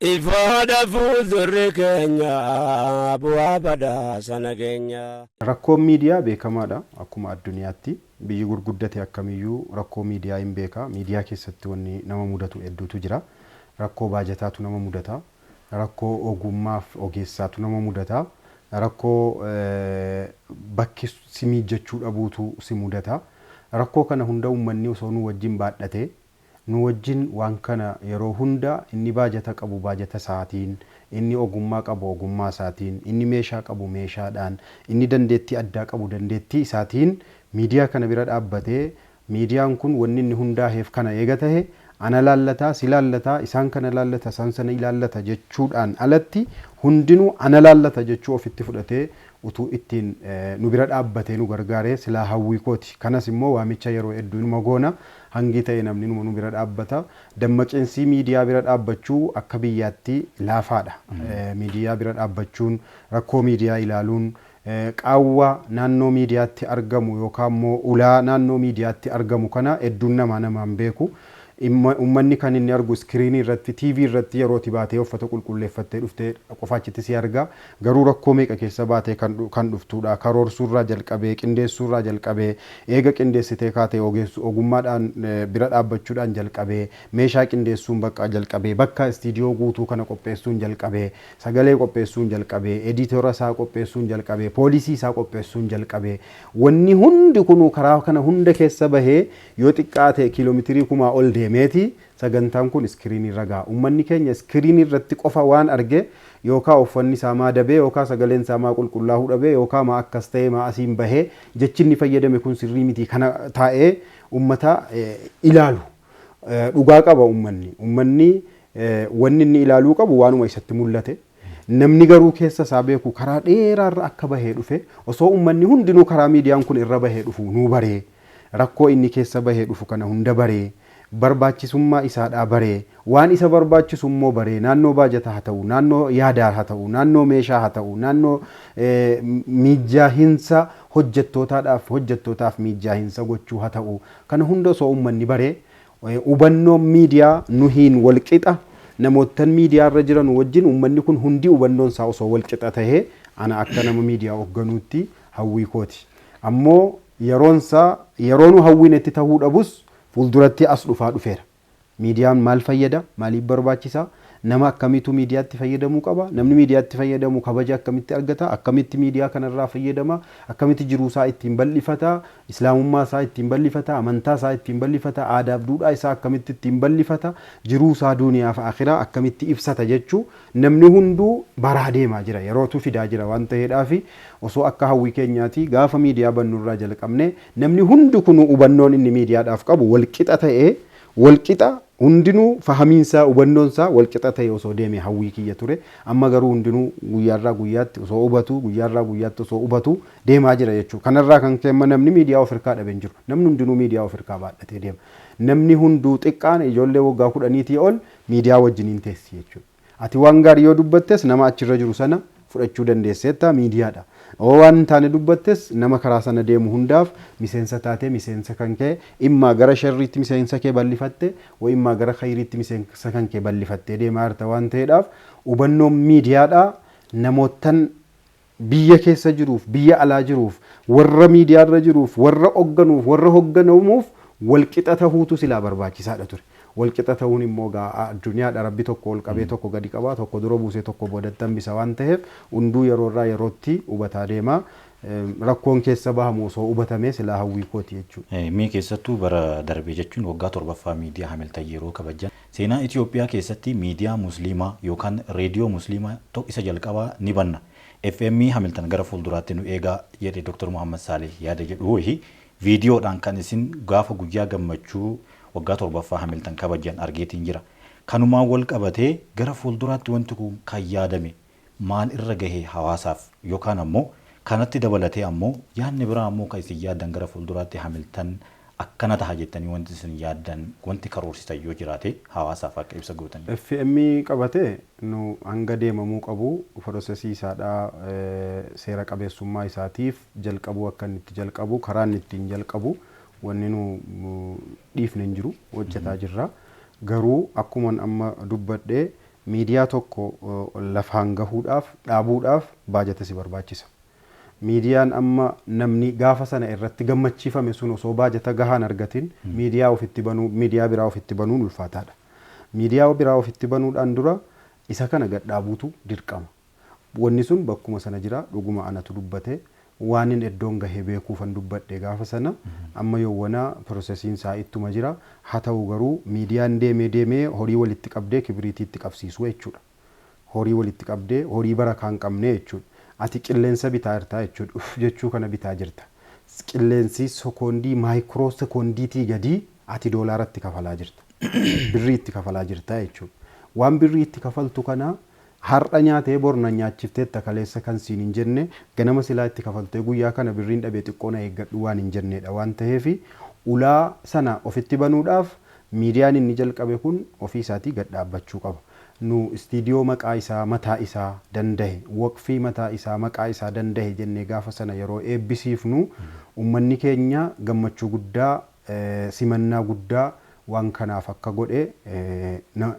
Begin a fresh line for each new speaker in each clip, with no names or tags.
Ifoodha fuuldurri keenya bu'aa badhaasa nageenya. Rakkoon miidiyaa
beekamaadha akkuma adduniyaatti. Biyyi gurguddate akkamiyyuu rakkoo miidiyaa hin beeka. Miidiyaa keessatti wanni nama mudatu hedduutu jira. Rakkoo baajataatu nama mudata. Rakkoo ogummaaf ogeessaatu nama mudata. Rakkoo bakki si miijjachuu dhabuutu si mudata. Rakkoo kana hunda ummanni osoo nuu wajjin baadhatee Nu wajjin waan kana yeroo hunda inni baajata qabu baajata isaatiin, inni ogummaa qabu ogummaa isaatiin, inni meeshaa qabu meeshaadhaan, inni dandeettii addaa qabu dandeettii isaatiin miidiyaa kana bira dhaabbatee miidiyaan kun wanni inni hundaaheef kana eega tahe ana laallata, si laallata, isaan kana laallata, isaan sana ilaallata jechuudhaan alatti hundinuu ana laallata jechuu ofitti fudhatee utuu ittiin nu bira dhaabbatee nu gargaaree silaa hawwii kooti. Kanas immoo waamicha yeroo hedduu inuma goona. Hangi ta'e namni numa nu bira dhaabbata. Dammaqinsii miidiyaa bira dhaabbachuu akka biyyaatti laafaadha. Miidiyaa bira dhaabbachuun, rakkoo miidiyaa ilaaluun, qaawwa naannoo miidiyaatti argamu yookaan immoo ulaa naannoo miidiyaatti argamu kana hedduun namaa nama hin beeku. Imma ummanni kan inni argu iskiriinii irratti, TV irratti yeroo ati baatee uffata qulqulleeffattee dhufte qofa achitti si arga. Garuu rakkoo meeqa keessa baatee kan kan dhuftuudha. Karoorsuurraa jalqabee, qindeessuurraa jalqabee, eega qindeessitee kaatee ogeessu ogummaadhaan bira dhaabbachuudhaan jalqabee, meeshaa qindeessuun bakka jalqabee, bakka istiidiyoo guutuu kana qopheessuun jalqabee, sagalee qopheessuun jalqabee, editora isaa qopheessuun jalqabee, poolisii isaa qopheessuun jalqabee, wanni hundi kunuu karaa kana hunda keessa bahee yoo xiqqaate kiiloomitirii kumaa ol deemeeti Sagantaan kun iskiriinii irra gaha. Ummanni keenya iskiriinii irratti qofa waan arge yookaa uffanni isaa maa dabee yookaa sagaleen isaa maa qulqullaahuu dhabee yookaa maa akkas ta'ee maa asiin bahee jechi inni fayyadame kun sirrii mitii kana taa'ee ummata ilaalu dhugaa qaba ummanni. Ummanni wanni inni ilaaluu qabu waanuma isatti mullate. Namni garuu keessa isaa beeku karaa dheeraa irra akka bahee dhufe osoo ummanni hundinuu karaa miidiyaan kun irra bahee dhufu nuu baree, rakkoo inni keessa bahee dhufu kana hunda baree, barbaachisummaa isaadhaa baree, waan isa barbaachisu immoo baree, naannoo baajataa haa ta'u, naannoo yaadaa haa ta'u, naannoo meeshaa haa ta'u, naannoo miijjaahinsa hojjettootaadhaaf hojjettootaaf miijjaahinsa gochuu haa ta'u, kana hunda osoo ummanni baree Hubannoon miidiyaa nuhiin wal qixa, namoottan miidiyaa irra jiranu wajjin uummanni kun hundi hubannoon isaa osoo wal qixa tahee ana akka nama miidiyaa hogganuutti hawwii kooti. Ammoo yeroon isaa yeroo nu hawwinetti tahuu dhabus fuulduratti as dhufaa dhufeera. Miidiyaan maal fayyada? Maaliif barbaachisa? Nama akkamiitu miidiyaatti fayyadamuu qaba? Namni miidiyaatti fayyadamu kabaja akkamitti argata? Akkamitti miidiyaa kana irraa fayyadama? Akkamitti jiruu isaa ittiin bal'ifata? Islaamummaa isaa ittiin bal'ifata, amantaa isaa ittiin bal'ifata, aadaaf duudhaa isaa akkamitti ittiin bal'ifata, jiruu isaa duuniyaa fi aakhiraa akkamitti ibsata jechuu namni hunduu baraa deemaa jira. Yerootu fidaa jira waan taheedhaafi osoo akka hawwii keenyaati gaafa miidiyaa bannu irraa jalqabnee namni hundi kunuu hubannoon inni miidiyaadhaaf qabu wal qixa ta'ee wal qixa hundinuu fahamiin isaa hubannoon isaa wal qixa ta'ee osoo deeme hawwii kiyya ture. Amma garuu hundinuu guyyaa irraa guyyaatti osoo hubatuu guyyaa irraa guyyaatti osoo hubatuu deemaa jira jechuudha. Kana irraa kan ka'e immoo namni miidiyaa of hirkaa dhabe hin jiru. Namni hundinuu miidiyaa of hirkaa baadhatee deema. Namni hunduu xiqqaan ijoollee waggaa kudhaniitii ol miidiyaa wajjiniin teessi jechuudha. Ati waan gaarii yoo dubbattes nama achirra jiru sana fudhachuu dandeesseetta miidiyaadha. Yoo waan hin taane dubbattes nama karaa sana deemu hundaaf miseensa taatee miseensa kan kee immaa gara sharriitti miseensa kee bal'ifatte wa immaa gara khayriitti miseensa kan kee bal'ifattee deemaa jirta waan ta'eedhaaf hubannoon miidiyaadha namoottan Biyya keessa jiruuf, biyya alaa jiruuf, warra miidiyaa irra jiruuf, warra hogganuuf, warra hogganamuuf wal qixa tahuutu silaa barbaachisaa dha ture. Wal qixa tahuun immoo egaa addunyaa dha, Rabbi tokko ol qabee tokko gadi qaba, tokko dura buusee tokko boodatti hambisa waan taheef hunduu yeroo irraa yerootti hubataa deema. Rakkoon keessa bahamu osoo hubatamee silaa hawwii kooti jechuu dha. Mee keessattuu bara
darbe jechuun waggaa 7ffaa miidiyaa Hamiltan yeroo kabajjan Seenaa Itiyoophiyaa keessatti miidiyaa Musliimaa yookaan reediyoo Musliimaa to isa jalqabaa ni banna. FM Hamiltan gara fuulduraatti nu eegaa, jedhe Dr. Muhammad Saalih yaada jedhu wahi viidiyoodhaan kan isin gaafa guyyaa gammachuu waggaa 7ffaa Hamiltan kabajjan argeetiin jira. Kanumaan wal qabatee gara fuulduraatti wanti kun kan yaadame. maal irra gahe hawaasaaf yookaan ammoo kanatti dabalatee ammoo yaadni biraa ammoo kan isin yaaddan gara fuulduraatti Hamiltan akkana taha jettanii wanti isin yaaddan wanti karoorsitan yoo jiraate hawaasaaf akka ibsa gootaniif. FM qabate
nu hanga deemamuu qabu firosesii isaadha seera qabeessummaa isaatiif jalqabuu akka inni itti jalqabu karaa inni ittiin jalqabu wanni nu dhiifne hin jiru hojjataa jirra garuu akkuman amma dubbadhe Miidiyaa tokko lafaan gahuudhaaf, dhaabuudhaaf baajata si barbaachisa. Miidiyaan amma namni gaafa sana irratti gammachiifame sun osoo baajata gahaa hin argatin miidiyaa ofitti banuu, miidiyaa biraa ofitti banuun ulfaataadha. Miidiyaa biraa ofitti banuudhaan dura isa kana gad dhaabuutu dirqama. Wanni sun bakkuma sana jira. Dhuguma anatu dubbate. Waanin eddoon gahe beekuufan dubbadhe gaafa sana. Amma yowwana pirosesiin isaa ittuma jira. Haa ta'u garuu miidiyaan deemee deemee horii walitti qabdee kibiriitii itti qabsiisuu jechuudha. Horii walitti qabdee horii barakaa hin qabne jechuudha. Ati qilleensa bitaa jirta jechuudha. Uff jechuu kana bitaa jirta. Qilleensi sekoondii maayikroo sekoondiitii gadii ati doolaara itti kafalaa jirta. Birrii itti kafalaa jirta jechuudha. Waan birrii itti kafaltu kana Har'a nyaatee bor na nyaachifteetta kaleessa kan siin hin jenne ganama silaa itti kafaltee guyyaa kana birriin dhabe xiqqoo na eeggadhu waan hin jenneedha waan taheef ulaa sana ofitti banuudhaaf miidiyaan inni jalqabe kun ofii isaatii gad dhaabbachuu qaba. Nu istiidiyoo maqaa isaa mataa isaa dandahe, waqfii mataa isaa maqaa isaa dandahe jennee gaafa sana yeroo eebbisiifnu ummanni keenya gammachuu guddaa simannaa guddaa waan kanaaf akka godhe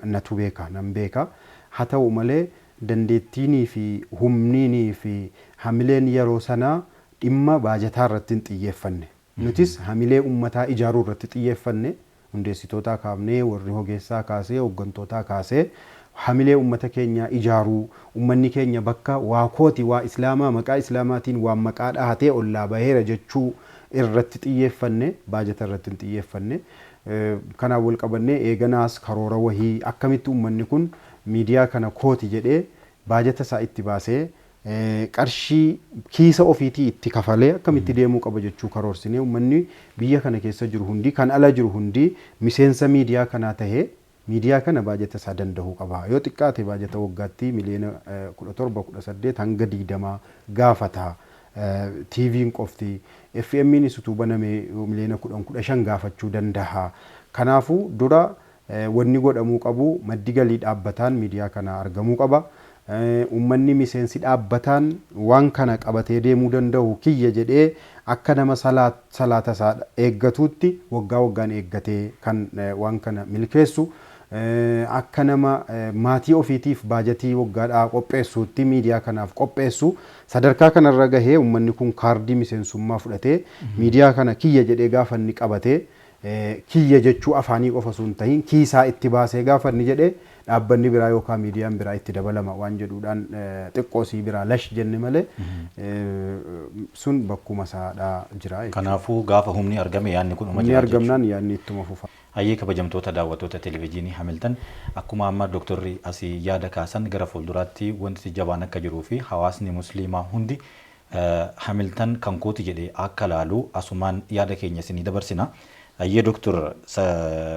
natu beeka, nan beeka. Haa ta'u malee, dandeettiinii fi humniinii fi hamileen yeroo sanaa dhimma baajataa irratti hin xiyyeeffanne. Nutis hamilee ummataa ijaaruu irratti xiyyeeffanne. Hundeessitootaa kaafnee, warri hogeessaa kaasee, hoggantootaa kaasee hamilee ummata keenyaa ijaaruu, ummanni keenya bakka waa kooti, waa Islaamaa, maqaa Islaamaatiin waan maqaa dhahatee ollaa baheera jechuu irratti xiyyeeffanne, baajata irratti hin xiyyeeffanne. Kanaan wal qabannee eeganaas karoora wahii akkamitti ummanni kun miidiyaa kana kooti jedhee baajata isaa itti baasee qarshii kiisa ofiitii itti kafalee akkamitti deemuu qaba jechuu karoorsinee ummanni biyya kana keessa jiru hundi kan ala jiru hundi miseensa miidiyaa kanaa tahee Miidiyaa kana baajata isaa dandahuu qaba. Yoo xiqqaate baajata waggaatti miliyoona 17, 18 hanga 20 gaafata. TVn qofti. FMnis utuu baname miliyoona 10, 15 gaafachuu dandaha. Kanaafuu dura wanni godhamuu qabu maddi galii dhaabbataan miidiyaa kanaa argamuu qaba. Uummanni miseensi dhaabbataan waan kana qabatee deemuu danda'u kiyya jedhee akka nama salaata isaa eeggatuutti waggaa waggaan eeggatee kan waan kana milkeessu, akka nama maatii ofiitiif baajatii waggaadhaa qopheessuutti miidiyaa kanaaf qopheessu sadarkaa kanarra gahee uummanni kun kaardii miseensummaa fudhatee miidiyaa kana kiyya jedhee gaafa inni qabate kiyya jechuu afaanii qofa osoo hin tahiin kiisaa itti baasee gaafa inni jedhe dhaabbanni biraa yookaan miidiyaan biraa itti dabalama waan jedhuudhaan xiqqoo sii biraa lash jenne malee sun bakkuma isaadha jira jechuudha. Kanaafuu gaafa humni
argame yaadni kun uma Humni jira jechuudha. argamnaan yaadni
ittuma fufa. Hayyee kabajamtoota
daawwattoota televijiinii Hamiltan akkuma amma doktorri asii yaada kaasan gara fuulduraatti wanti jabaan akka jiruu fi hawaasni musliimaa hundi Hamiltan kan kooti jedhe akka laalu asumaan yaada keenya isinii dabarsina. Ayyee Doktor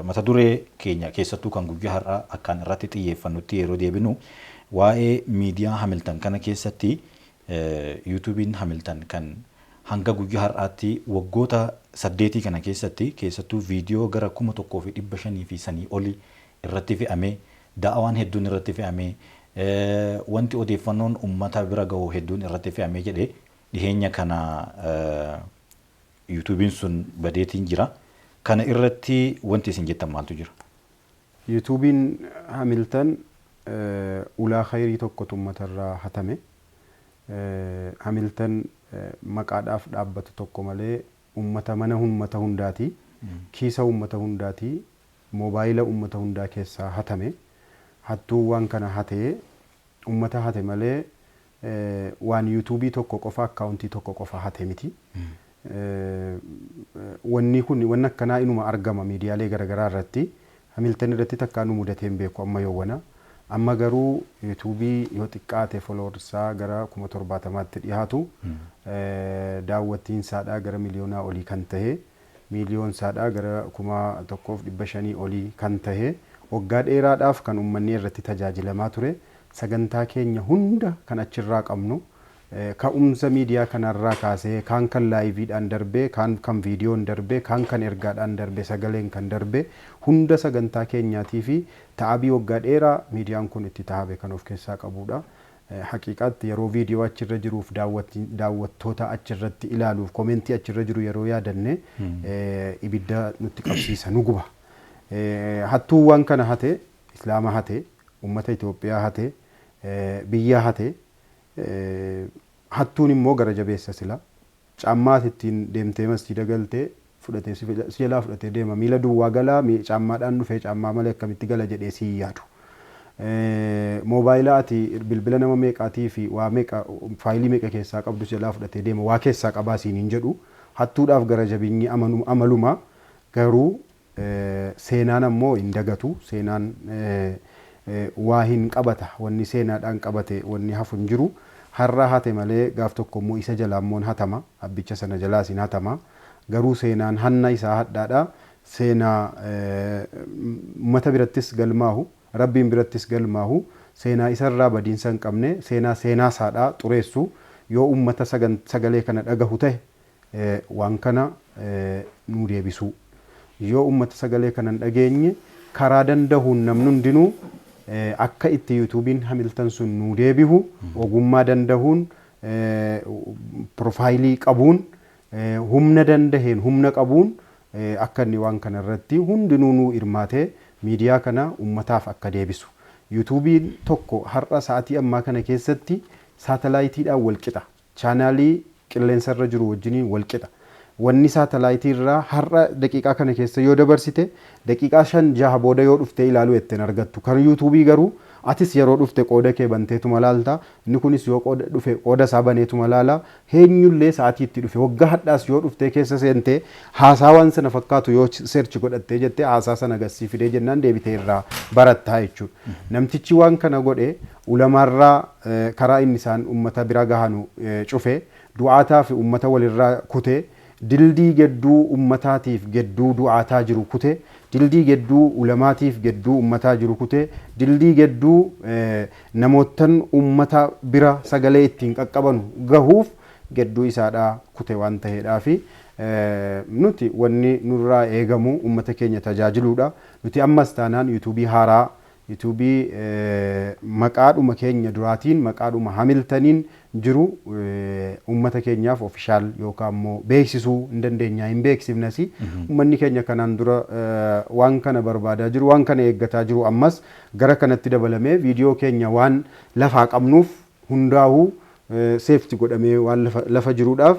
mata duree keenya keessattuu kan guyyaa har'aa akkaan irratti xiyyeeffannutti yeroo deebinu waa'ee miidiyaa Hamiltan kana keessatti Yuutuubiin Hamiltan kan hanga guyyaa har'aatti waggoota saddeetii kana keessatti keessattuu viidiyoo gara 1500 fi sanii oli irratti fe'amee Da'awaan hedduun irratti fe'ame, wanti odeeffannoon ummata bira gahu hedduun irratti fe'ame jedhe. Dhiheenya kana Yuutuubiin sun badeetiin jira. Kana irratti wanti isin jettan maaltu jira? Yuutuubiin
Hamiltan ulaa khayrii tokkotu ummata irraa hatame. Hamiltan maqaadhaaf dhaabbata tokko malee ummata mana ummata hundaati, kiisa ummata hundaati. Mobaayila ummata hundaa keessaa hatame. Hattuun waan kana hate ummata hate malee waan youtube tokko qofa account tokko qofa hate miti. Wanni kun wanni akkanaa inuma argama miidiyaalee garagaraa irratti. Hamilton irratti takkaa nu mudatee hin beeku amma yowwana. Amma garuu youtube yoo xiqqaate followers isaa gara 70,000tti dhihaatu daawwattiinsaadhaa gara miliyoonaa olii kan tahe miiliyoon saadhaa gara kuma tokkoof dhibba shanii olii kan tahe, waggaa dheeraadhaaf kan ummannii irratti tajaajilamaa ture, sagantaa keenya hunda kan achirraa qabnu, ka'umsa miidiyaa kanarraa kaasee kaan kan laayiviidhaan darbe, kaan kan viidiyoon darbe, kaan kan ergaadhaan darbe, sagaleen kan darbe, hunda sagantaa keenyaatiifi ta'abii waggaa dheeraa miidiyaan kun itti tahabe kan of keessaa qabuudha. Haqiiqaatti yeroo viidiyoo achi irra jiruuf daawwattoota achi irratti ilaaluuf komentii achi irra jiru yeroo yaadanne ibidda nutti qabsiisa nu guba. Hattuun waan kana hate Islaama hate, ummata Itoophiyaa hate, biyya hate. Hattuun immoo gara jabeessa sila. Caammaa ati ittiin deemtee masjiida galte fudhatee si jalaa fudhatee deema. Miila duwwaa galaa mi caammaadhaan dhufee caammaa malee akkamitti gala jedhee si hin yaadu. Moobaayila ati bilbila nama meeqaatii fi waa meeqa faayilii meeqa keessaa qabdu si jalaa fudhatee deema. Waa keessaa qabaa siin hin jedhu. Hattuudhaaf gara jabinyi amaluma garuu Seenaan ammoo hin dagatu. Seenaan waa hin qabata. Wanni seenaadhaan qabate wanni hafu hin jiru. Har'a hate malee gaaf tokko immoo isa jalaa immoo hin hatama. Abbicha sana jalaas hin hatama. Garuu seenaan hanna isaa hadhaadha. Seenaa ummata birattis galmaahu, Rabbiin birattis galmaahu, seenaa isa irraa badiinsa hin qabne, seenaa seenaa isaadhaa xureessu, yoo ummata sagalee kana dhagahu tahe, waan kana nuu deebisuu. Yoo ummata sagalee kana hin dhageenye karaa dandahuun namni hundinuu akka itti yuutuubiin hamiltan sun nuu deebihu ogummaa dandahuun profaayilii qabuun humna dandaheen humna qabuun akka inni waan kana irratti hundinuu nuu hirmaatee miidiyaa kana ummataaf akka deebisu. Yuutuubiin tokko har'a sa'atii ammaa kana keessatti saatalaayitiidhaan wal qixa. chaanaalii qilleensa irra jiru wajjiniin wal qixa. Wanni saatalaayitii irraa har'a daqiiqaa kana keessa yoo dabarsite, daqiiqaa shan jaha booda yoo dhuftee ilaaluu jette hin argattu. Kan yuutuubii garuu atis yeroo dhufte qooda kee banteetuma laalta, inni kunis yoo qooda dhufe qooda isaa baneetuma laala. Heenyullee sa'atii itti dhufe, waggaa hadhaas yoo dhuftee keessa seentee haasaa waan sana fakkaatu yoo search godhattee jettee haasaa sana gad sii fidee jennaan deebitee irraa baratta jechuudha. Namtichi waan kana godhe Ulamaarraa karaa inni isaan ummata bira gahanu cufe, du'aataa fi ummata walirra kute, dildii gedduu ummataatiif gedduu du'aataa jiru kute, dildii gedduu ulamaatiif gedduu ummataa jiru kute, dildii gedduu namoottan ummata bira sagalee ittiin qaqqabanu gahuuf gedduu isaadhaa kute waan taheedhaafi. Nuti wanni nurraa eegamu ummata keenya tajaajiluudha. Nuti ammas taanaan yuutuubii haaraa YouTube maqaadhuma keenya duraatiin maqaadhuma hamiltaniin jiru ummata keenyaaf official yookaan immoo beeksisuu hin dandeenyaa hin beeksifnasi ummanni keenya kanaan dura waan kana barbaadaa jiru waan kana eeggataa jiru ammas gara kanatti dabalamee viidiyoo keenya waan lafaa qabnuuf hundaahu safety godhamee waan lafa jiruudhaaf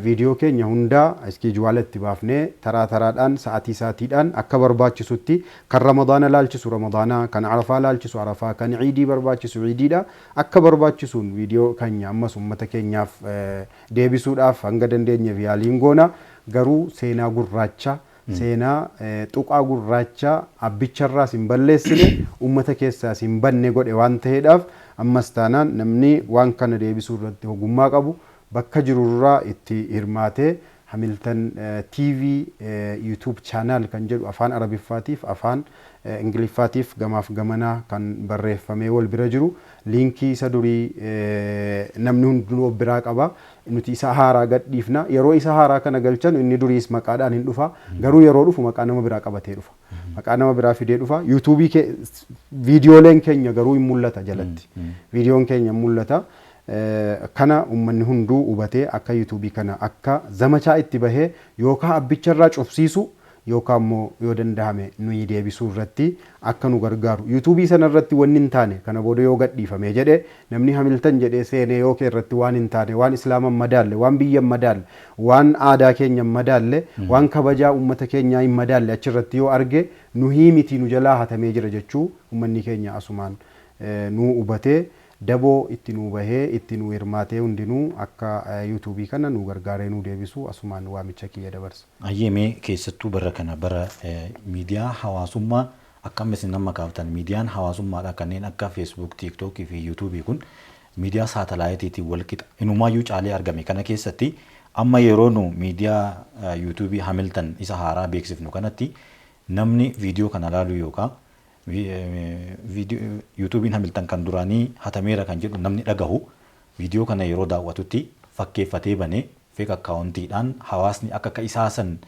video keenya hundaa schedule itti baafnee taraa taraadhaan sa'atii sa'atiidhaan akka barbaachisutti kan ramadaana laalchisu ramadaana kan arafaa laalchisu arafaa kan iidii barbaachisu iidiidha akka barbaachisuun video keenya ammas ummata keenyaaf deebisuudhaaf hanga dandeenyeef yaaliin goona garuu seenaa gurraacha seenaa tuqaa gurraacha abbicharraas hin balleessine, uummata keessaas hin badne godhe waan ta'eedhaaf ammas taanaan namni waan kana deebisuu irratti ogummaa qabu bakka jirurraa itti hirmaatee Hamilton TV YouTube channel kan jedhu afaan Arabiffaatiif afaan Ingiliffaatiif gamaaf gamanaa kan barreeffamee wal bira jiru liinkii isa durii namni hundinuu of biraa qaba. Nuti isa haaraa gad dhiifna. Yeroo isa haaraa kana galchanu inni duriis maqaadhaan hin dhufa. Garuu yeroo dhufu maqaa nama biraa qabatee dhufa. Maqaa nama biraa fidee dhufa. Yuutuubii kee viidiyooleen keenya garuu hin mul'ata jalatti. Viidiyoon keenya hin mul'ata. Eh, Kana uummanni hunduu hubatee akka yuutuubii kana akka zamachaa itti bahee yookaan abbicha irraa cufsiisu yookaan immoo yoo dandahame nuyi deebisuu irratti akka nu gargaaru youtube sana irratti wanni hin taane kana booda yoo gadhiifame jedhe namni hamiltan jedhee seenee yoo kee irratti waan hin taane waan islaama hin madaalle waan biyya hin madaalle waan aadaa keenya hin madaalle waan kabajaa ummata keenyaa hin madaalle achi irratti yoo arge nuhii mitii nu jalaa hatamee jira jechuu ummanni keenya asumaan nuu hubatee Daboo itti nuu bahee itti nuu hirmaatee hundinuu akka youtube kana nuu gargaaree nuu deebisu asumaan waamicha kiyya dabarsa. Hayyee mee keessattuu
bara kana bara miidiyaa hawaasummaa akka amma isin amma kaaftan miidiyaan hawaasummaadhaa kanneen akka facebook tiktok fi youtube kun miidiyaa saatalaayitiitiin wal qixa inumaayyuu caalee argame kana keessatti amma yeroo nu miidiyaa youtube hamilton isa haaraa beeksifnu kanatti namni viidiyoo kana laaluu yookaa Yuutuubiin Hamiltan kan duraanii hatameera kan jedhu namni dhagahu viidiyoo kana yeroo daawwatutti fakkeeffatee banee fake account dhaan hawaasni akka ka isaa san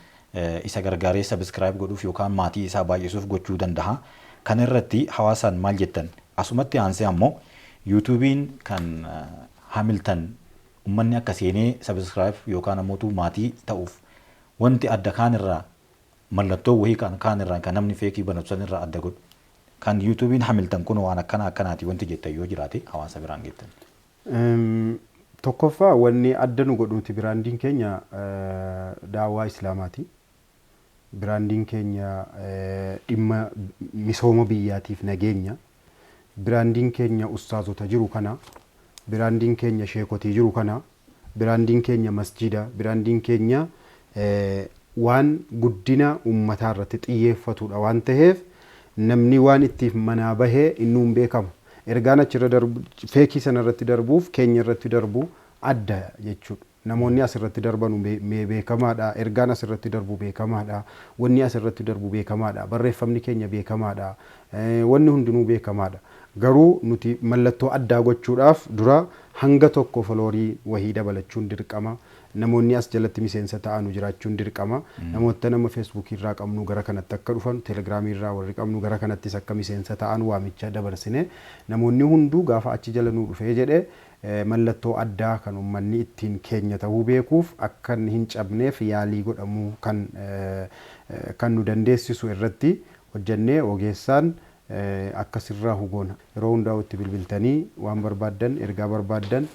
isa gargaaree subscribe godhuuf yookaan maatii isaa baay'isuuf gochuu dandaha. Kana irratti hawaasaan maal jettan? Asumatti aansee ammoo Yuutuubiin kan Hamiltan ummanni akka seenee subscribe yookaan ammoo maatii ta'uuf wanti adda kaan irraa Mallattoo wahii kan kaan irraan kan namni feekii banatu san irraa adda godhu. Kan yuutuubiin hamiltan kun waan akkanaa akkanaati wanti jettan yoo jiraate hawaasa biraan geettan. Tokkoffaa
wanni adda nu godhu nuti biraandiin keenya daawaa islaamaati. Biraandiin keenya dhimma misooma biyyaatiif nageenya Biraandiin keenya ustaazota jiru kana, biraandiin keenya sheekotii jiru kana, biraandiin keenya masjiida, biraandiin keenya waan guddina ummataa irratti xiyyeeffatudha waan taheef namni waan ittiif manaa bahe innuu hin beekamu. Ergaan achirra darbu, feekii sanarratti darbuuf keenya irratti darbu adda jechuudha. Namoonni as irratti darbanu mee beekamaa dha. Ergaan as irratti darbu beekamaa dha. Wanni as irratti darbu beekamaa dha. Barreeffamni keenya beekamaa dha. Wanni hundinuu beekamaa dha. Garuu nuti mallattoo addaa gochuudhaaf dura hanga tokko foloorii wahii dabalachuun dirqama. Namoonni as jalatti miseensa ta'anu jiraachuun dirqama. Namoottan amma Facebook irraa qabnu gara kanatti akka dhufan, Telegram irraa warri qabnu gara kanattis akka miseensa ta'an waamicha dabarsine. Namoonni hunduu gaafa achi jala nuu dhufee jedhe Mallattoo addaa kan ummanni ittiin keenya tahuu beekuuf akkan hin cabneef yaalii godhamu kan kan nu dandeessisu irratti hojjannee ogeessaan akka sirraahu goona. Yeroo hundaa'u itti bilbiltanii waan barbaaddan, ergaa barbaaddan,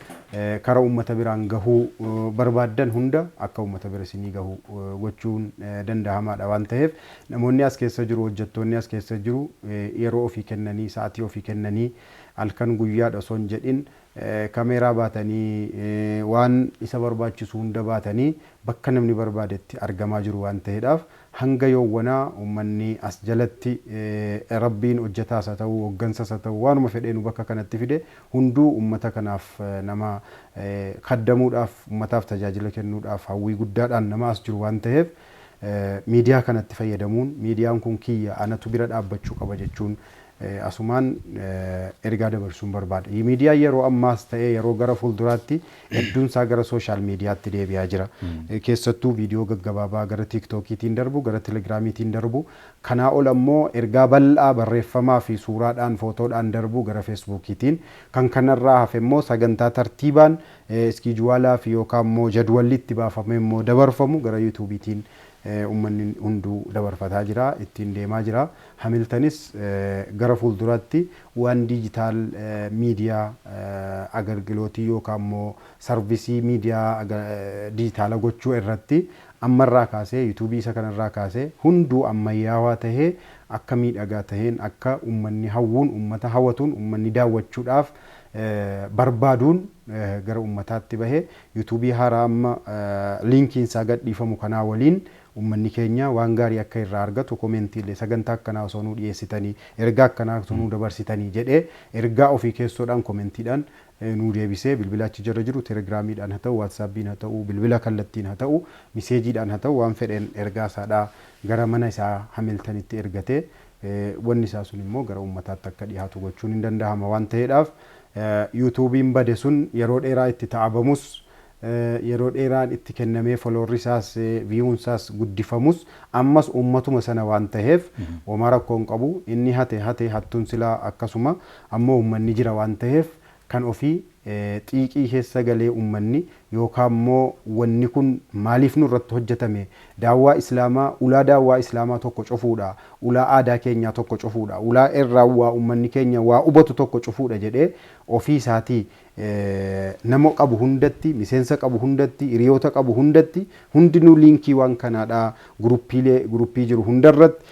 kara ummata biraan gahuu barbaaddan hunda akka ummata bira isinii gahu gochuun danda'amaa dha waan taheef namoonni as keessa jiru, hojjattoonni as keessa jiru yeroo ofii kennanii, sa'atii ofii kennanii, halkan guyyaadha osoo hin jedhin kameeraa baatanii waan isa barbaachisu hunda baatanii bakka namni barbaadetti argamaa jiru waan ta'eedhaaf hanga yoowwanaa ummanni as jalatti Rabbiin hojjetaas haa ta'u hoggansas haa ta'u waanuma fedhee nu bakka kanatti fide hunduu ummata kanaaf nama khaddamuudhaaf ummataaf tajaajila kennuudhaaf hawwii guddaadhaan nama as jiru waan ta'eef miidiyaa kanatti fayyadamuun miidiyaan kun kiyya anatu bira dhaabbachuu qaba jechuun asumaan ergaa dabarsuun barbaada. Miidiyaan yeroo ammaas ta'ee yeroo gara fuulduraatti hedduun isaa gara sooshaal miidiyaatti deebi'aa jira. Keessattuu viidiyoo gaggabaabaa gara tiiktookiitiin darbu, gara telegiraamiitiin darbu, kanaa ol ammoo ergaa bal'aa barreeffamaa fi suuraadhaan, footoodhaan darbu gara feesbuukiitiin. Kan kanarraa hafe immoo sagantaa tartiibaan iskiijuwaalaa fi yookaan immoo jadwalli itti baafamee immoo dabarfamu gara yuutuubiitiin ummanni hunduu dabarfataa jira, ittiin deemaa jira. Hamiltanis gara fuulduraatti waan diijitaal miidiyaa agargilootii yookaan immoo sarvisii miidiyaa diijitaala gochuu irratti amma irraa kaasee yuutuubii isa kana irraa kaasee hunduu ammayyaawaa tahee akka miidhagaa taheen akka ummanni hawwuun ummata hawatuun ummanni daawwachuudhaaf barbaaduun gara ummataatti bahe yuutuubii haaraa amma liinkiin isaa gadhiifamu kanaa waliin Ummanni keenya waan gaarii akka irraa argatu comment illee sagantaa akkanaa osoo nuu dhiyeessitanii, ergaa akkanaa osoo nuu dabarsitanii jedhee ergaa ofii keessoodhaan comment dhaan nuu deebisee bilbila achi jala jiru telegram dhaan haa ta'u, whatsapp haa ta'u, bilbila kallattiin haa ta'u, message dhaan haa ta'u waan fedheen ergaa isaa dhaa gara mana isaa Hamilton tti ergatee wanni isaa sun immoo gara ummataatti akka dhihaatu gochuun hin dandahama waan taheedhaaf YouTube bade sun yeroo dheeraa itti ta'abamus yeroo dheeraan itti kennamee foloorri isaas viyuun isaas guddifamus ammas uummatuma sana waan taheef homaa rakkoo hin qabu inni hate hate hattuun silaa akkasuma ammoo uummanni jira waan taheef kan ofii xiiqii keessa galee uummanni yookaa immoo wanni kun maaliif nurratti hojjatame daawwaa islaamaa ulaa daawwaa islaamaa tokko cufuudha ulaa aadaa keenyaa tokko cufuudha ulaa irraa waa uummanni keenya waa hubatu tokko cufuudha jedhee ofii isaatii Nama qabu hundatti, miseensa qabu hundatti, hiriyoota qabu hundatti, hundinuu liinkiiwaan kanaadhaa guruppiilee, guruppii jiru hundarratti,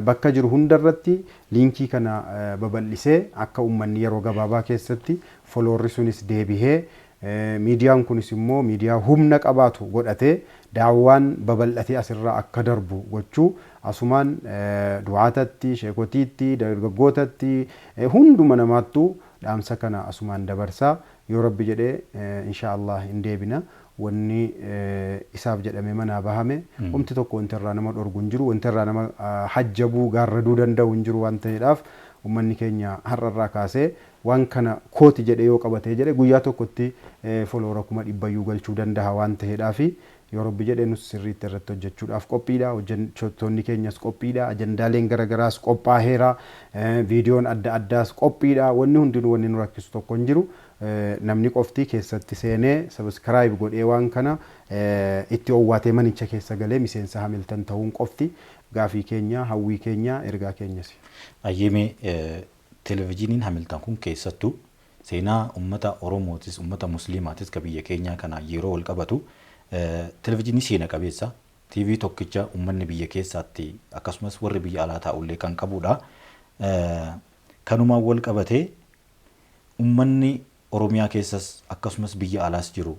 bakka jiru hundarratti liinkii kana babal'isee akka ummanni yeroo gabaabaa keessatti followerri sunis deebihee miidiyaan kunis immoo miidiyaa humna qabaatu godhatee daawwaan babal'atee asirraa akka darbu gochuu asumaan du'aatatti, sheekotiitti, dargaggootatti hunduma namaattuu Dhaamsa kana asumaan dabarsa. Yoo Rabbi jedhe inshaa Allaah hin deebina. Wanni isaaf jedhamee manaa bahame homti tokko wanti irraa nama dhorgu hin jiru. Wanti irraa nama hajjabuu, gaarraduu danda'u hin jiru waan ta'eedhaaf ummanni keenya har'a irraa kaasee waan kana kooti jedhee yoo qabatee jedhe guyyaa tokkotti foloowara kuma dhibbayyuu galchuu dandaha waan ta'eedhaafi Yoo Rabbi jedhe nus sirriitti irratti hojjechuudhaaf qophiidha. Hojjechoottoonni keenyas qophiidha. Ajandaaleen gara garaas qophaaheera. Viidiyoon adda addaas qophiidha. Wanni hundinuu wanni nu rakkisu tokko hin jiru. Namni qofti keessatti seenee subscribe godhee waan kana itti owwaatee manicha keessa galee miseensa Hamilton tahuun qofti gaafii keenya, hawwii keenya, ergaa keenyasi. Ayyee mee
Televijiniin Hamilton kun keessattuu Seenaa ummata Oromootis, ummata Musliimaatis ka biyya keenyaa kanaan yeroo wal qabatu televijinii seena qabeessa, TV tokkicha ummanni biyya keessaatti akkasumas warri biyya alaa taa'ullee kan qabuudha. Kanumaan wal qabatee ummanni Oromiyaa keessas akkasumas biyya alaas jiru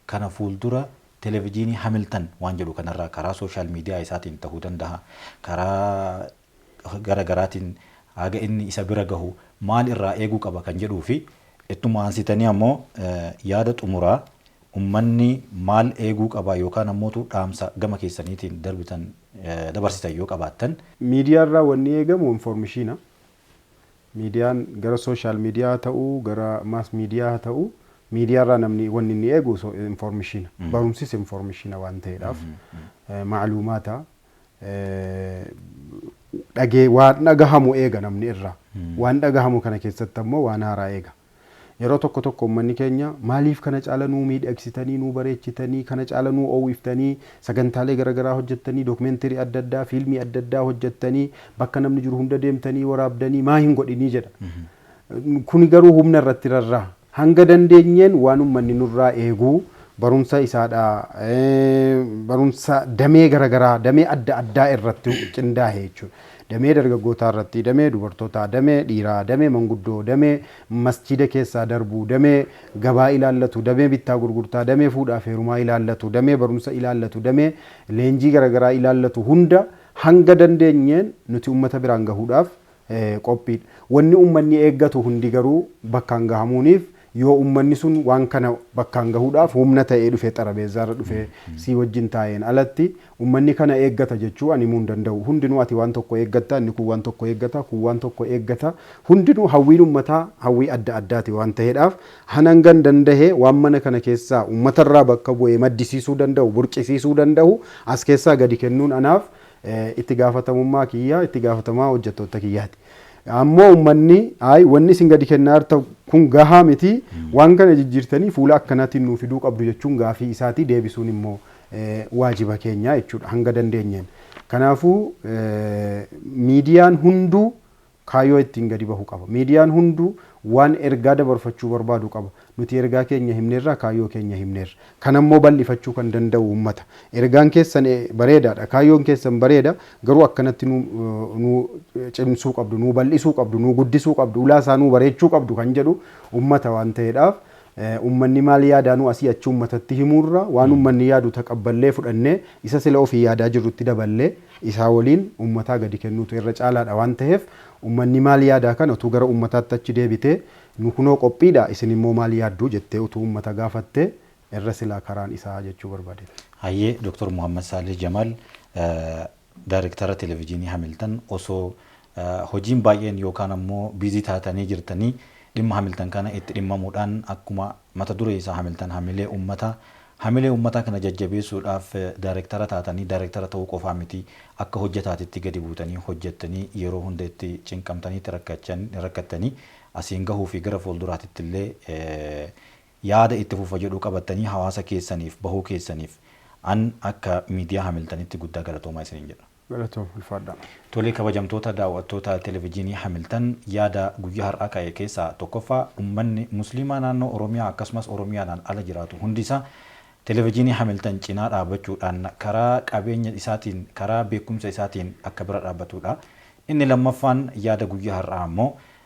kana fuuldura televijinii Hamiltan waan jedhu kanarraa karaa social media isaatiin tahuu dandaha, karaa gara garaatiin haga inni isa bira gahu maal irraa eeguu qaba kan jedhuu fi ittuma aansitanii ammoo yaada xumuraa ummanni maal eeguu qaba yookaan ammootu dhaamsa gama keessaniitiin darbitan dabarsitan yoo qabaattan. Miidiyaa irraa wanni
eegamu informishiina. Miidiyaan gara social media haa ta'u, gara mass media haa ta'u miidiyaa irraa namni wanni inni eegu informishiina. Barumsis informishiina waan ta'eedhaaf. Maaluumaata. dhagee waan dhagahamu eega namni irraa. Waan dhagahamu kana keessatti ammoo waan haaraa eega. Yeroo tokko tokko uummanni keenya maaliif kana caala nuu miidhagsitanii nuu bareechitanii kana caala nuu oowwiftanii sagantaalee garaagaraa hojjettanii dookumeentirii adda addaa fiilmii adda addaa hojjettanii bakka namni jiru hunda deemtanii waraabdanii maa hin godhinii jedha. Kuni garuu humna irratti rarra. Hanga dandeenyeen waan ummanni nurraa eegu barumsa isaadha barumsa damee garagaraa damee adda addaa irratti qindaahe jechuudha. Damee dargaggootaa irratti, damee dubartootaa, damee dhiiraa, damee manguddoo, damee masjiida keessaa darbu, damee gabaa ilaallatu, damee bittaa gurgurtaa, damee fuudhaaf heerumaa ilaallatu, damee barumsa ilaallatu, damee leenjii garagaraa ilaallatu hunda hanga dandeenyeen nuti ummata biraan gahuudhaaf qophiidha. Wanni ummanni eeggatu hundi garuu bakkaan gahamuuniif yoo ummanni sun waan kana bakkaan gahuudhaaf humna ta'ee dhufe xarabeezzaarra dhufee sii wajjin taa'een alatti ummanni kana eeggata jechuu an himuu hin danda'u. Hundinuu ati waan tokko eeggatta, inni kun waan tokko eeggata, kun waan tokko eeggata. Hundinuu hawwiin ummataa hawwii adda addaati waan ta'eedhaaf an hangan dandahe waan mana kana keessaa ummatarraa bakka bu'ee maddisiisuu danda'u, burqisiisuu danda'u as keessaa gadi kennuun anaaf Itti gaafatamummaa kiyya, itti gaafatamaa hojjattootta kiyyaati. Ammoo ummanni ayi wanni isin gadi kennaa jirta kun gahaa miti, waan kana jijjiirtanii fuula akkanaatiin nuu fiduu qabdu jechuun gaafii isaatii deebisuun immoo waajiba keenya jechuudha hanga dandeenyeen. Kanaafuu miidiyaan hunduu Kaayyoo ittiin gadi bahu qaba. Miidiyaan hunduu waan ergaa dabarfachuu barbaadu qaba. Nuti ergaa keenya himneerraa kaayyoo keenya himneerra. Kana immoo bal'ifachuu kan danda'u uummata. Ergaan keessan bareedaadha, kaayyoon keessan bareeda, garuu akkanatti nuu nuu cimsuu qabdu, nuu bal'isuu qabdu, nuu guddisuu qabdu, ulaa isaa nuu bareechuu qabdu kan jedhu uummata waan ta'eedhaaf Ummanni maal yaadaanuu asii achi ummatatti himuurra waan ummanni yaadu taqabballee fudhannee isa sila ofii yaadaa jirrutti daballee isaa waliin ummataa gadi kennuutu irra caalaadha waan taheef ummanni maal yaadaa kana utuu gara ummataatti achi deebitee nu kunoo qophiidha isin immoo maal yaaddu jettee utuu ummata gaafattee irra silaa karaan isaa jechuu barbaadeen. Hayyee Dr.
Muhammad Saalih Jamaal Daarektara Televijiinii Hamiltan osoo hojiin baay'een yookaan ammoo busy taatanii jirtanii dhimma Hamiltan kana itti dhimmamuudhaan akkuma mata duree isaa Hamiltan Hamilee Ummataa Hamilee Ummataa kana jajjabeessuudhaaf daarektara taatanii daarektara ta'uu qofaa miti akka hojjetaatitti gadi buutanii hojjettanii yeroo hunda itti cinqamtanii itti rakkattanii asiin gahuu fi gara fuulduraatittillee Yaada itti fufa jedhu qabattanii hawaasa keessaniif bahuu keessaniif an akka miidiyaa Hamiltanitti guddaa galatoomaa isiniin jedha. Galatoom ulfaadhaa.
Tole kabajamtoota
daaw'attoota Televijiinii Hamiltan yaada guyyaa har'aa ka'e keessaa tokkoffaa ummanni musliimaa naannoo Oromiyaa akkasumas Oromiyaadhaan ala jiraatu hundi isaa Televijiinii Hamiltan cinaa dhaabachuudhaan karaa qabeenya isaatiin karaa beekumsa isaatiin akka bira dhaabatuudha. Inni lammaffaan yaada guyyaa har'aa ammoo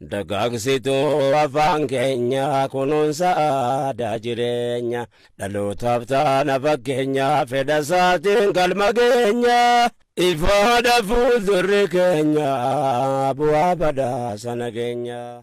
Dagaagsituu afaan keenya kunuunsa aadaa jireenya dhalootaaf taana fakkeenya fedha isaatiin galma geenya ifaadha fuuldurri keenya bu'aa badhaasa nageenya.